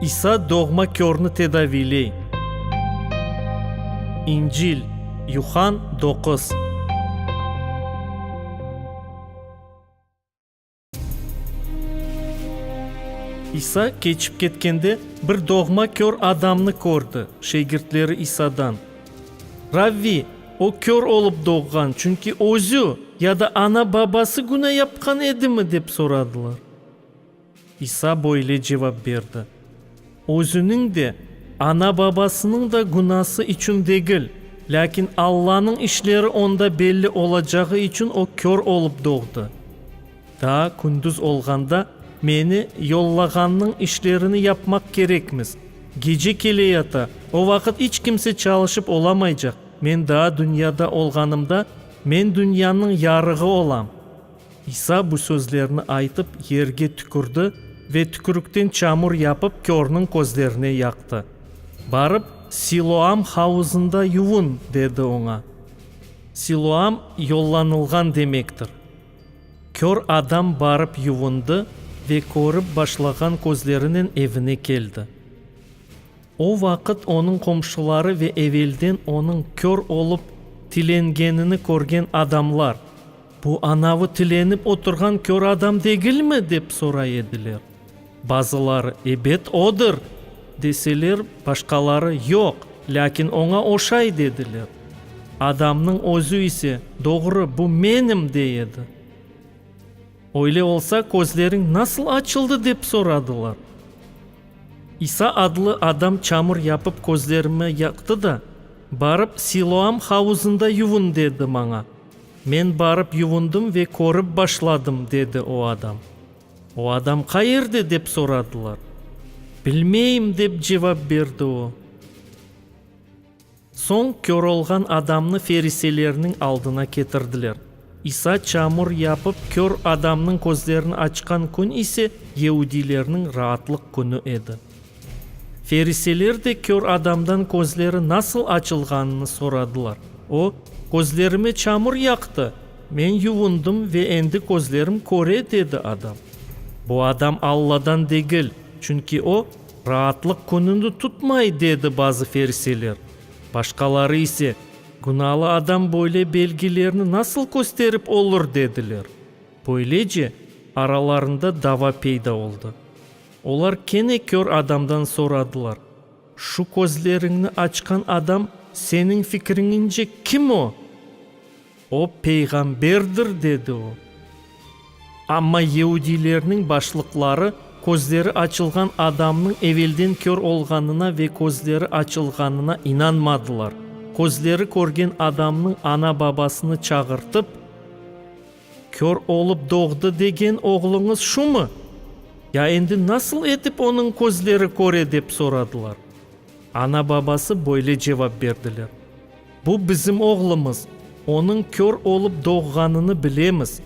İsa doğma körni tedaviyley. İncil, Yuhann doquz. İsa keçip ketkende, bir doğma kör adamnı kördi. Şegirtleri İsadan. Ravvi, o kör olıp doğğan, çünki özü ya da ana-babası günâ yapqan edimi? dep soradılar. İsa böyle cevap berdi, Özüniñ de, ana-babasınıñ da günası içün degil, lâkin Allanıñ işleri onda belli olacağı içün o kör olıp doğdı. Daa kündüz olğanda meni yollağannıñ işlerini yapmaq kerekmiz. Gece keleyata, o vaqıt iç kimse çalışıp olamaycaq. Men daa dünyada olğanımda, men dünyanıñ yarığı olam. İsa bu sözlerni aytıp, yerge tükürdi ve tükürükten çamur yapıp, körniñ közlerine yaqtı. Barıp, Siloam havuzında yuvun, dedi oña. Siloam, yollanılğan demektir. Kör adam barıp yuvundı ve körip başlağan közlerinen evine keldi. O vaqıt onıñ qomşuları ve evelden onıñ kör olıp tilengenini körgen adamlar, Bu anavı tilenip oturğan kör adam degilmi? dep soray ediler. Bazıları, ebet, odır! deseler, başqaları, yoq, lâkin oña oşay, dediler. Adamnıñ özü ise, doğru, bu menim, dey edi. Öyle olsa, közleriñ nasıl açıldı? dep soradılar. İsa adlı adam çamur yapıp közlerime yaqtı da, Barıp, Siloam havuzında yuvun, dedi maña. Men barıp yuvundım ve körip başladım, dedi o adam. O adam qayerde? dep soradılar. Bilmeyim, dep cevap berdi o. Soñ kör olğan adamnı feriselerniñ aldına ketirdiler. İsa çamur yapıp kör adamnıñ közlerini açqan kün ise, yeudilerniñ Raatlıq künü edi. Feriseler de kör adamdan közleri nasıl açılğanını soradılar. O, Közlerime çamur yaqtı, men yuvundım ve endi közlerim köre, dedi adam. Bu adam Alladan degil, çünki o, Raatlıq kününi tutmay, dedi bazı feriseler. Başqaları ise, Günalı adam böyle belgilerni nasıl kösterip olur, dediler. Böylece, aralarında dava peyda oldı. Olar kene kör adamdan soradılar, Şu közleriñni açqan adam seniñ fikriñince kim o? O peyğamberdir, dedi o. Amma yeudiylerniñ başlıqları közleri açılğan adamnıñ evelden kör olğanına ve közleri açılğanına inanmadılar. Közleri körgen adamnıñ ana-babasını çağırtıp. Kör olıp doğdı degen oğluñız şumı? Ya endi nasıl etip onıñ közleri köre? dep soradılar. Ana-babası böyle cevap berdiler, Bu bizim oğlumız, onıñ kör olıp doğğanını bilemiz.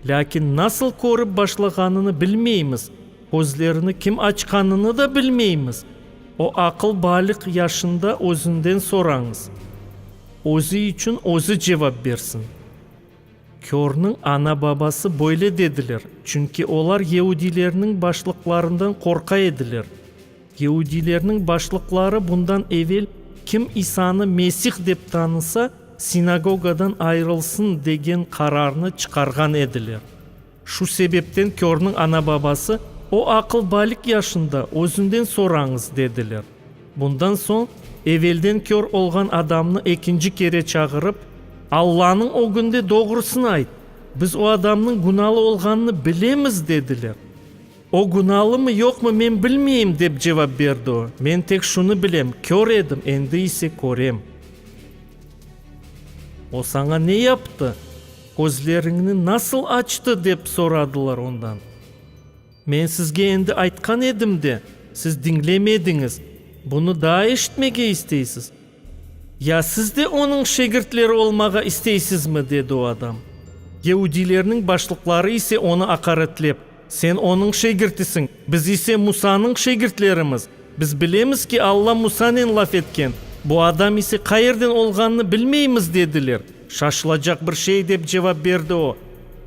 Lâkin nasıl körip başlağanını bilmeymiz, közlerini kim açqanını da bilmeymiz. O aqıl baliq yaşında özünden sorañız. Özü içün özü cevap bersin. Körniñ ana-babası böyle dediler, çünki olar yeudilerniñ başlıqlarından qorqa ediler. Yeudilerniñ başlıqları bundan evel, Kim İsanı Mesih dep tanısa, sinagogadan ayırılsın, degen qararnı çıqarğan ediler. Şu sebepten körniñ ana-babası, O aqıl balik yaşında, özünden sorañız, dediler. Bundan soñ evelden kör olğan adamnı ekinci kere çağırıp, Allanıñ ögünde doğrusını ayt, biz o adamnıñ günalı olğanını bilemiz, dediler. O günalımı, yoqmı, men bilmeyim, dep cevap berdi o, men tek şunı bilem, kör edim, endi ise körem. O saña ne yaptı? Közleriñni nasıl açtı? dep soradılar ondan. Men sizge endi aytqan edim de, siz diñlemediñiz, bunı daa eşitmege isteysiz? Ya siz de onıñ şegirtleri olmağa isteysizmi? dedi o adam. Yehudiylerniñ başlıqları ise onı aqaretlep. Sen onıñ şegirtisiñ, biz ise Musanıñ şegirtlerimiz. Biz bilemiz ki, Alla Musanen laf etken, bu adam ise qayerden olğanını bilmeymiz, dediler. Şaşılacaq bir şey, dep cevap berdi o.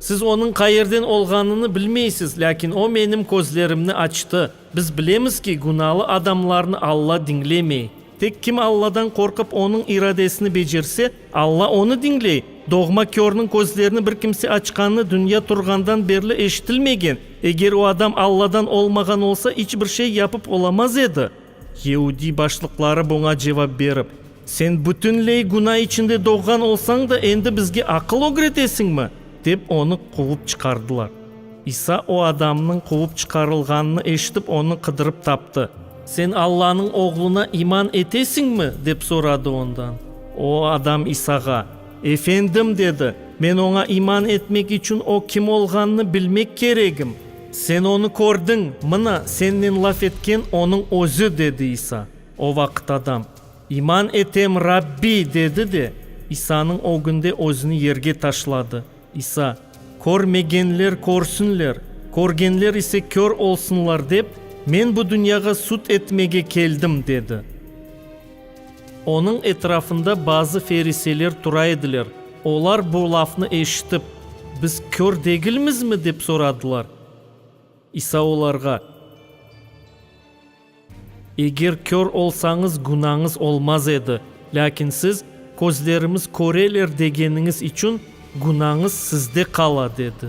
Siz onıñ qayerden olğanını bilmeysiz, lâkin o menim közlerimni açtı. Biz bilemiz ki, günalı adamlarnı Alla diñlemey. Tek kim Alladan qorqıp, Onıñ iradesini becerse, Alla onı diñley. Doğma körniñ közlerini bir kimse açqanı dünya turğandan berli eşitilmegen. Eger o adam Alladan olmağan olsa, iç bir şey yapıp olamaz edi. Yeudiy başlıqları buña cevap berip. Sen bütünley günâ içinde doğğan olsañ da, endi bizge aqıl ögretesiñmi? dep, onı quvıp çıqardılar. İsa o adamnıñ quvıp çıqarılğanını eşitip, onı qıdırıp taptı. Sen Allanıñ Oğluna iman etesiñmi? dep soradı ondan. O adam İsağa, Efendim, dedi, men oña iman etmek içün o kim olğanını bilmek keregim. Sen onı kördiñ, mına, sennen laf etken onıñ özü, dedi İsa. O vaqıt adam, İman etem, Rabbi! dedi de, İsanıñ ögünde özüni yerge taşladı. İsa, Körmegenler körsünler, körgenler ise kör olsunlar dep, men bu dünyağa sud etmege keldim, dedi. Onıñ etrafında bazı feriseler tura ediler. Olar bu lafnı eşitip, Biz kör degilmizmi? dep soradılar. İsa olarğa, Eger kör olsañız, günañız olmaz edi, lâkin siz, Közlerimiz köreler degeniñiz içün günañız sizde qala, dedi.